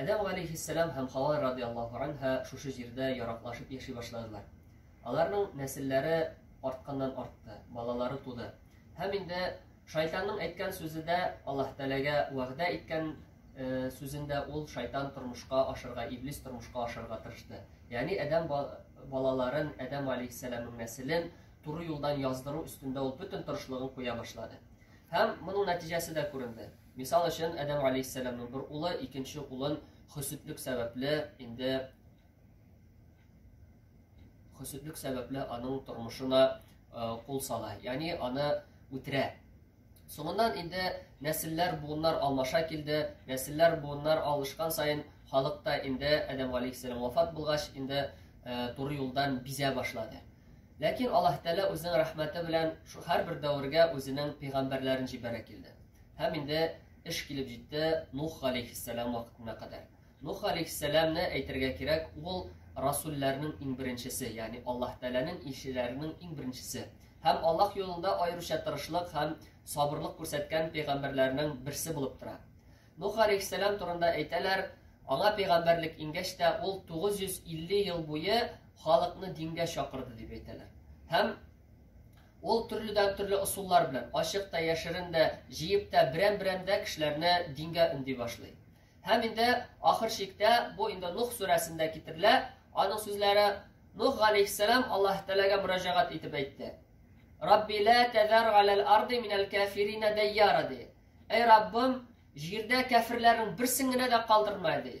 Адәм галейхиссәлам һәм Хава радиаллаһу анһа шушы җирдә яраклашып яши башладылар. Аларның нәселләре артканнан артты, балалары туды. Һәм инде шайтанның әйткән сүзе дә Аллаһ Тәгаләгә вәгъдә иткән э, сүзендә ул шайтан тормышка ашырга, иблис тормышка ашырга тырышты. Ягъни Адәм балаларын, Адәм алейхиссаламның нәселен туры юлдан яздыру өстендә ул бөтен тырышлыгын куя башлады. Һәм моның нәтиҗәсе дә күренде. Мисал өчен, Адәм галәйһиссәламның бер улы икенче улын хөсетлек сәбәпле инде хөсетлек сәбәпле аның тормышына кул сала, ягъни аны үтерә. Соңыннан инде нәселләр буыннар алмаша килде, нәселләр буыннар алышкан саен халыкта инде Адәм галәйһиссәлам вафат булгач, инде э, туры юлдан бизә башлады. Ләкин Аллаһ Тәгалә үзенең рәхмәте белән һәрбер дәвергә үзенең пәйгамбәрләрен җибәрә килде. Һәм инде эш килеп җитте Нух галәйһиссәлам вакытына кадәр. Нух галәйһиссәламне әйтергә кирәк, ул расулләрнең иң беренчесе, ягъни Аллаһ Тәгаләнең илчеләренең иң беренчесе. Һәм Аллаһ юлында аеруча тырышлык һәм сабырлык күрсәткән пәйгамбәрләрнең берсе булып тора. Нух галәйһиссәлам турында әйтәләр, аңа пәйгамбәрлек ингәч тә ул 950 ел буе халыкны дингә чакырды дип әйтәләр. Һәм Ул төрледән-төрле ысуллар белән, ачык та, яшерен дә, җыеп та, берәм-берәм дә кешеләрне дингә өнди башлый. Һәм инде ахыр чиктә, бу инде Нух сүрәсендә китерелә, аның сүзләре Нух галәйһиссәлам Аллаһ Тәгаләгә мөрәҗәгать итеп әйтте. Рабби ла тәзәр галәл арды минәл кафирина дәйяра ди. Әй Раббым, җирдә кәферләрнең берсен генә дә калдырма ди.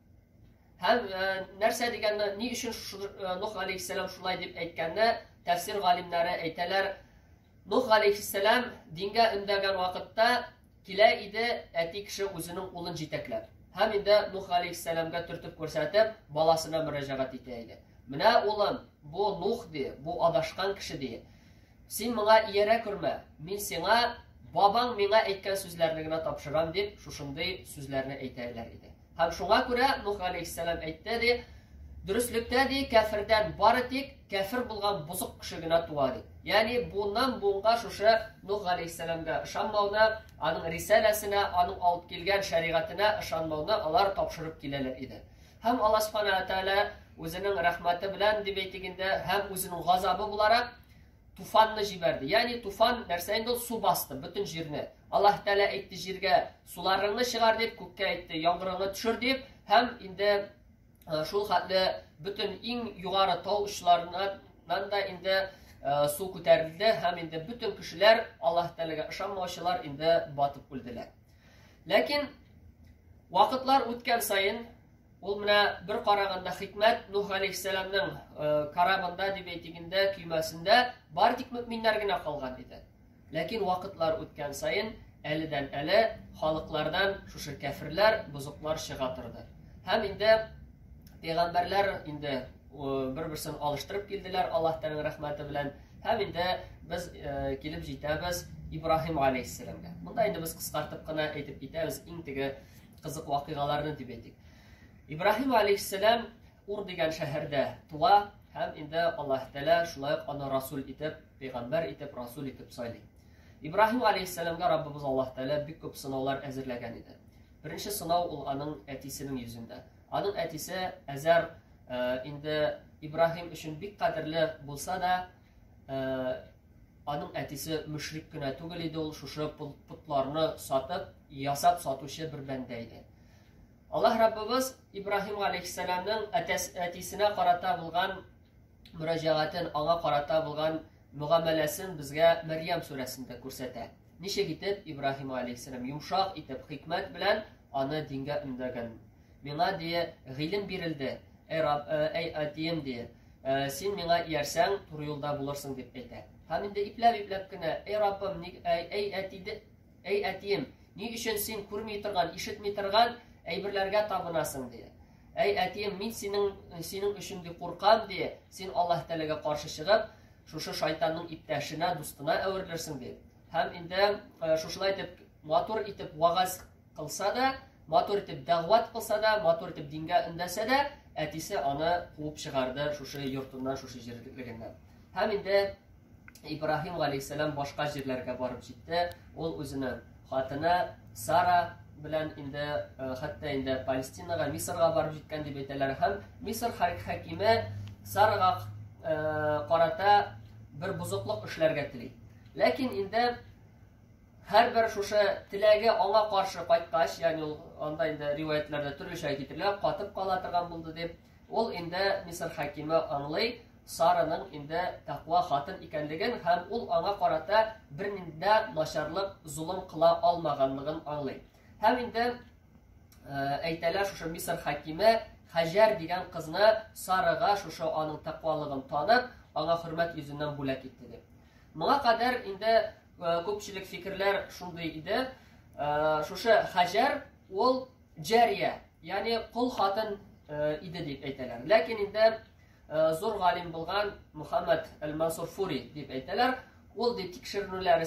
Һәм э, нәрсә дигәндә, ни өчен э, Нух алейхиссалам шулай дип әйткәндә, тәфсир галимнәре әйтәләр, Нух алейхиссалам дингә өндәгән вакытта килә иде әти кеше үзенең улын җитәкләп. Һәм инде Нух алейхиссаламга төртеп күрсәтеп, баласына мөрәҗәгать итә иде. Менә улым, бу Нух ди, бу адашкан кеше ди. Син моңа иярә күрмә, мин сиңа бабаң миңа әйткән сүзләрне генә тапшырам, дип, шушындый сүзләрне әйтәләр иде. Һәм шуңа күрә Нух галәйһиссәлам әйтте, ди, Дөреслектә, ди, кәфердән бары тик кәфер булган бозык кеше генә туа, ди. Ягъни буыннан-буынга шушы Нух галәйһиссәламгә ышанмауны, аның рисаләсенә, аның алып килгән шәригатенә ышанмауны алар тапшырып киләләр иде. Һәм Аллаһ Субхана Атәлә үзенең рәхмәте белән дип әйтик инде, һәм үзенең газабы буларак туфанны җибәрде. Ягъни туфан нәрсә инде ул су басты бөтен җирне. Аллаһ Тәгалә әйтте җиргә суларыңны чыгар дип, күккә әйтте яңгырыңны төшер дип, һәм инде э, шул хәтле бөтен иң югары тау очларыннан да инде э, су күтәрелде һәм инде бөтен кешеләр Аллаһ Тәгаләгә ышанмаучылар инде батып үлделәр. Ләкин вакытлар үткән саен, ул менә бер караганда хикмәт Нух алейхиссәламның э, карабында дип әйтик инде, көймәсендә бар тик мөминнәр генә калган иде. Ләкин вакытлар үткән саен әледән әле халыклардан шушы кәферләр, бозыклар чыга торды. Һәм инде пәйгамбәрләр инде бер берсен алыштырып килделәр аллаһ тәгалә рәхмәте белән һәм инде без э, килеп җитәбез ибраһим алейхиссәламгә монда инде без кыскартып кына әйтеп китәбез иң теге кызык вакыйгаларны дип әйтик ибраһим алейхиссәлам ур дигән шәһәрдә туа һәм инде аллаһ тәгалә шулай ук аны расул итеп пәйгамбәр итеп расул итеп сайлый ибраһим алейхиссәламгә раббыбыз аллаһ тәгалә бик күп сынаулар әзерләгән иде беренче сынау ул аның әтисенең йөзендә Аның әтисе Әзәр инде Ибраһим өчен бик кадерле булса да, аның әтисе мөшрик кенә түгел иде, ул шушы путларны сатып, ясап сатучы бер бәндә иде. Аллаһ Раббыбыз Ибраһим алейхиссаламның әтисенә карата булган мөрәҗәгатен, аңа карата булган мөгамәләсен безгә Мәрьям сүрәсендә күрсәтә. Ничек итеп Ибраһим алейхиссалам йомшак итеп хикмәт белән аны дингә өндәгән. Миңа дие гыйлем бирелде. Әй Раб, әй Атием дие. Син миңа иярсәң, туры юлда булырсың дип әйтә. Һәм инде ипләп-ипләп кенә, әй Раббым, ник әй әй әтиде, әй әтием, ни өчен син күрми торган, ишетми торган әйберләргә табынасың дие. Әй әтием, мин синең синең өчен дип куркам дие. Син Аллаһ Тәгаләгә каршы чыгып, Шушы шайтанның иптәшенә, дустына әверелерсең ди. Һәм инде э, шушылай итеп матур итеп вагаз кылса да, матур итеп дәгъват кылса да, матур итеп дингә өндәсә дә, әтисе аны куып чыгарды шушы йортыннан, шушы җирлегеннән. Һәм инде Ибраһим галәйһиссәлам башка җирләргә барып җитте. Ул үзенең Хатыны Сара белән инде э, хәтта инде Палестинага, Мисырга барып җиткән дип әйтәләр һәм Мисыр хакиме Сарага э, карата бер бузыклык эшләргә тели. Ләкин инде һәрбер шушы теләге аңа каршы кайткач, ягъни ул анда инде риваятларда төрлечә китерелә, катып кала торган булды дип Ул инде Мисыр хакиме аңлый, Сараның инде тәкъва хатын икәнлеген һәм ул аңа карата бернинди начарлык, зулым кыла алмаганлыгын аңлый. Һәм инде э, әйтәләр шушы Мисыр хакиме Хаҗар дигән кызны Сарага шушы аның тәкъвалыгын танып, аңа хөрмәт йөзеннән бүләк итте дип. Моңа кадәр инде э, күпчелек фикерләр шундый иде. Э, шушы Хаҗар ул Җәрия, ягъни кол хатын иде дип әйтәләр. Ләкин инде зур галим булган Мухаммад әл-Мансур Фури дип әйтәләр. Ул ди тикшеренүләр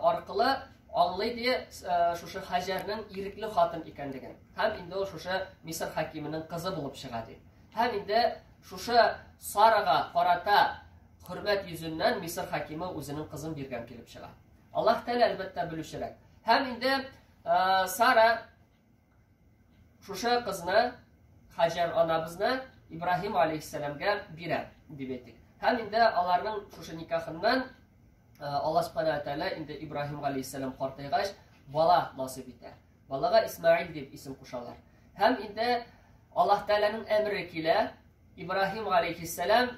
аркылы аңлый ди шушы Хаҗәрнең ирекле хатын икәнлеген. Һәм инде ул шушы Мисыр хакимының кызы булып чыга ди. Һәм инде шушы Сарага карата хөрмәт йөзеннән Мисыр хакимы үзенең кызын биргән килеп чыга. Аллаһ Тәгалә әлбәттә белүчерәк. Һәм инде Ә, Сара шушы кызны Хаҗар анабызны Ибраһим алейхиссәламгә бирә дип әйтик. Һәм инде аларның шушы никахыннан Э, Аллаһ Субхана Атәлә инде Ибраһим галәйһиссәлам картайгач, бала насып итә. Балага Исмаил дип исем кушалар. Һәм инде Аллаһ Тәгаләнең әмере килә, Ибраһим галәйһиссәлам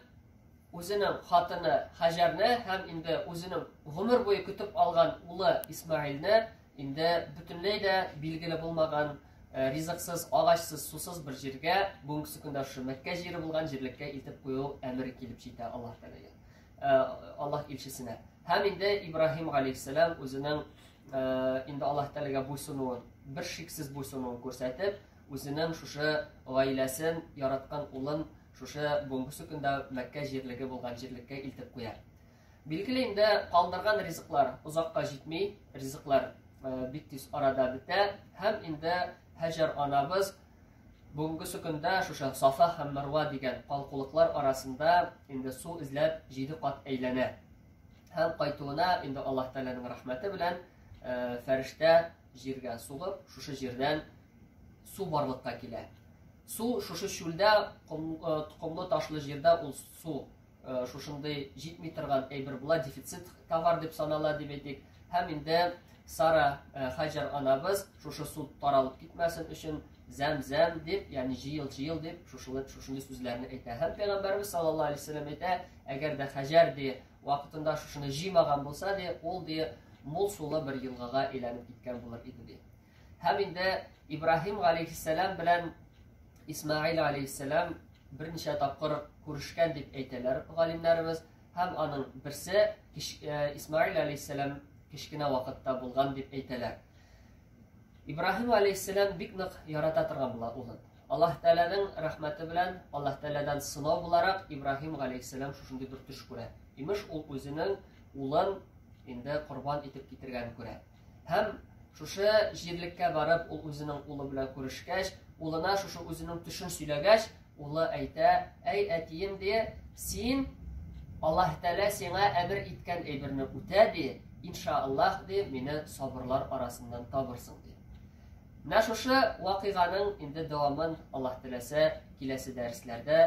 үзенең хатыны Хаҗәрне һәм инде үзенең гомер буе көтеп алган улы Исмаилне инде бөтенләй дә билгеле булмаган э, ризыксыз, агачсыз, сусыз бер җиргә, бүгенге көндә шушы Мәккә җире булган җирлеккә илтеп кую әмере килеп җитә Аллаһ Тәгаләгә. Э, Аллаһ илчесенә. Һәм инде Ибраһим галәйһиссәлам үзенең э, инде Аллаһ Тәгаләгә буйсынуын, бер шиксез буйсынуын күрсәтеп, Үзенең шушы гаиләсен, яраткан улын шушы бүгенге сукында Мәккә җирлеге булган җирлеккә илтеп куя. Билгеле инде калдырган ризыклар озакка җитми, ризыклар э, бик тиз арада бетә һәм инде Хаҗар анабыз бүгенге сукында шушы Сафа һәм Марва дигән калкулыклар арасында инде су эзләп җиде кат әйләнә. Һәм кайтуына инде Аллаһ Тәгаләнең рәхмәте белән э, фәрештә Җиргә сугып, шушы җирдән су барлыкка килә. Су шушы чүлдә, комлы ташлы җирдә ул су шушындый җитми торган әйбер була, дефицит товар дип санала дип әйтик. Һәм инде Сара Хаҗар анабыз шушы су таралып китмәсен өчен зәм-зәм дип, ягъни җыел-җыел дип шушылы шушындый сүзләрне әйтә. Һәм пәйгамбәрбез саллаллаһу алейһи ва сәлләм әйтә, әгәр дә Хаҗар ди Вакытында шушыны җыймаган булса, ди, ул ди, мул сулы бер елгага әйләнеп киткән булыр иде, ди. Һәм инде Ибраһим галәйһиссәлам белән Исмаил галәйһиссәлам берничә тапкыр күрешкән дип әйтәләр галимнәребез. Һәм аның берсе э, Исмаил галәйһиссәлам кечкенә вакытта булган дип әйтәләр. Ибраһим галәйһиссәлам бик нык ярата торган була улын. Аллаһ Тәгаләнең рәхмәте белән, Аллаһ Тәгаләдән сынау буларак Ибраһим галәйһиссәлам шушындый бер төш күрә. Имеш, ул үзенең улын инде корбан итеп китергәнен күрә. Һәм шушы җирлеккә барып, ул үзенең улы белән күрешкәч, улына шушы үзенең төшен сөйләгәч, улы әйтә, әй әтием ди, син Аллаһ Тәгалә сиңа әмер иткән әйберне үтә ди, иншааллаһ ди, мине сабырлар арасыннан табырсың ди. Менә шушы вакыйганың инде дәвамын, Аллаһ теләсә, киләсе дәресләрдә,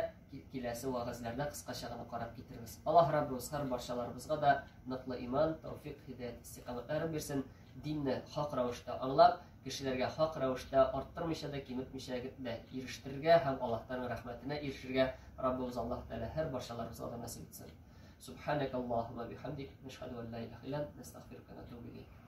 киләсе вәгазьләрдә кыскача гына карап китербез. Аллаһ Раббыбыз һәр барчаларыбызга да ныклы иман, тәүфик, һидаят, истикамәтләрен бирсен. Динне хак рәвештә аңлап, кешеләргә хак рәвештә арттырмыйча да, киметмичә дә ирештерергә һәм Аллаһтан рәхмәтенә ирешергә Раббыбыз Аллаһ Тәгалә һәр барчаларыбызга да насыйп итсен. Субханакаллаһумма бихамдик, нәшһәду ан ла илаһа илля ант, нәстәгъфирука ва натубу илейк.